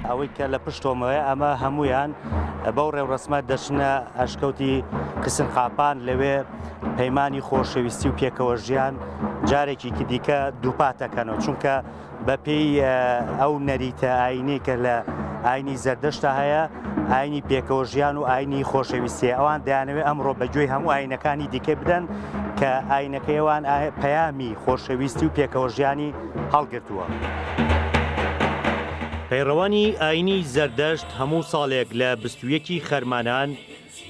ئەوەی کە لە پشتۆمەوەی ئەمە هەمویان بەو ڕێوڕسمە دەچنە ئەشکەوتی کسن قاپان لەوێ پەیمانانی خۆشەویستی و پێکەوە ژیان جارێکی دیکە دووپاتەکەنەوە چونکە بەپێی ئەو نەریتە ئاینەی کە لە ئاینی زەردەشتا هەیە ئاینی پێکەوە ژیان و ئاینی خۆشەویستێ ئەوان دەیانەوێت ئەمڕۆ بەگوێی هەموو ئاینەکانی دیکە بدەن کە ئاینەکەیوان پەیامی خۆشەویستی و پێکەوە ژیانی هەڵگرتووە. پەیڕەوانی ئاینی زەردەشت هەموو ساڵێک لە بستویەکی خەرمانان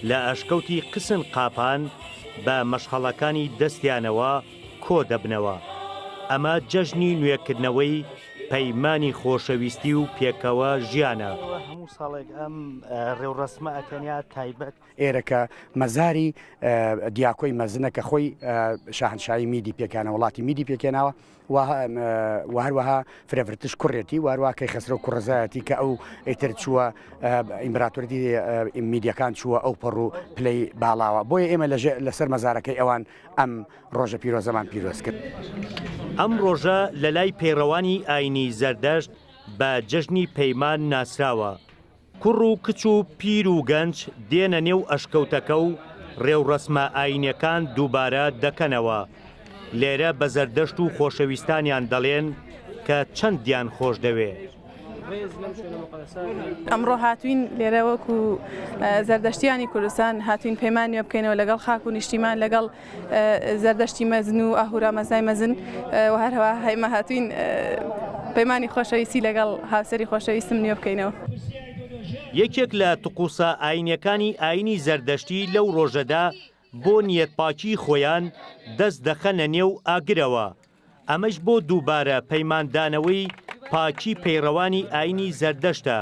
لە ئەشکەوتی قسن قاپان بە مەشخەڵەکانی دەستیانەوە، کۆ دەبنەوە، ئەمە جەژنی نوێکردنەوەی پەیمانی خۆشەویستی و پێکەوە ژیانە. هەموو ساڵێک ئەم ڕێوڕەسمە ئەتەنیا تایبەت. ئێرەکە مەزاری دیاکۆی مەزنە کە خۆی شاهنشاهی میدی پێکانە وڵاتی میدی پێکێناوە و هەروەها فرەڤرتش کوڕێتی و هەروە کەیخەسرە و کوڕزایەتی کە ئەو ئیتر چووە ئیمبراتوردی میدیەکان چووە ئەو پەڕ و پلەی باڵاوە بۆیە ئێمە لەسەر مەزارەکەی ئەوان ئەم ڕۆژە پیرۆزەمان پیرۆز کرد. ئەم ڕۆژە لە لای پەیڕەوانی ئاینی زەردەشت بە جەژنی پەیمان ناسراوە، کوڕ و کچ و پیر و گەنج دێنە نێو ئەشکەوتەکە و ڕێوڕەسمە ئاینیەکان دووبارە دەکەنەوە، لێرە بە زەردەشت و خۆشەویستانیان دەڵێن کە چەندیان خۆشدەوێ. ئەمڕۆ هاتوین لێرە وەکو زەردەشتیانی کوردستان هاتوین پەیمان نوێ بکەینەوە لەگەڵ خاک و نیشتیمان لەگەڵ زەردەشتی مەزن و ئاهورا مەزای مەزن و هەرەوە هەمە هاتوین پەیمانی خۆشەویستی لەگەڵ هاوسری خۆشەویستم نوێ بکەینەوە. یەکێک لە تقوسە ئاینیەکانی ئاینی زەردەشتی لەو ڕۆژەدا بۆ نیەتپاکی خۆیان دەست دەخەنە نێو ئاگرەوە ئەمەش بۆ دووبارە پەیماندانەوەی پاکی پەیڕەوانی ئاینی زەردەشتە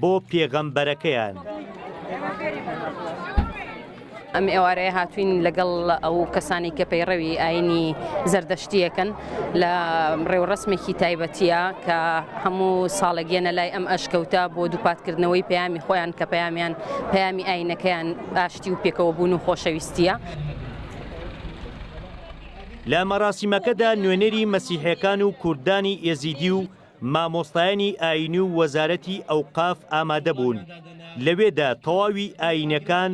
بۆ پێغەمبەرەکەیان. ئەم ئێوارەیە هاتوین لەگەڵ ئەو کەسانی کە پەیڕەوی ئاینی زەردەشتیەکەن لە ڕێوڕسمێکی تایبەتە کە هەموو ساڵێگەێنە لای ئەم ئەشکەوتە بۆ دووپاتکردنەوەی پەیامی خۆیان کە پەیامیان پەیامی ئاینەکەیان ئاشتی و پێکەوە بوون و خۆشەویستیە. لە مەراسیمەکەدا نوێنەری مەسیحێکان و کوردانی ئێزیدی و مامۆستایانی ئاینی و وەزارەتی ئەوقاف ئامادە بوون لەوێدا تەواوی ئاینەکان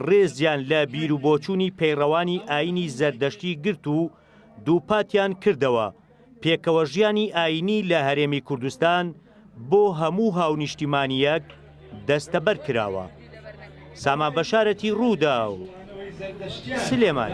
ڕێزیان لە بیروبۆچوونی پەیڕەوانی ئاینی زەردەشتی گرت و دووپاتیان کردەوە پێکەوە ژیانی ئاینی لە هەرێمی کوردستان بۆ هەموو هاونیشتیمانیەک دەستەبەر کراوە سامان بەشارەتی ڕوودا و سلێمان.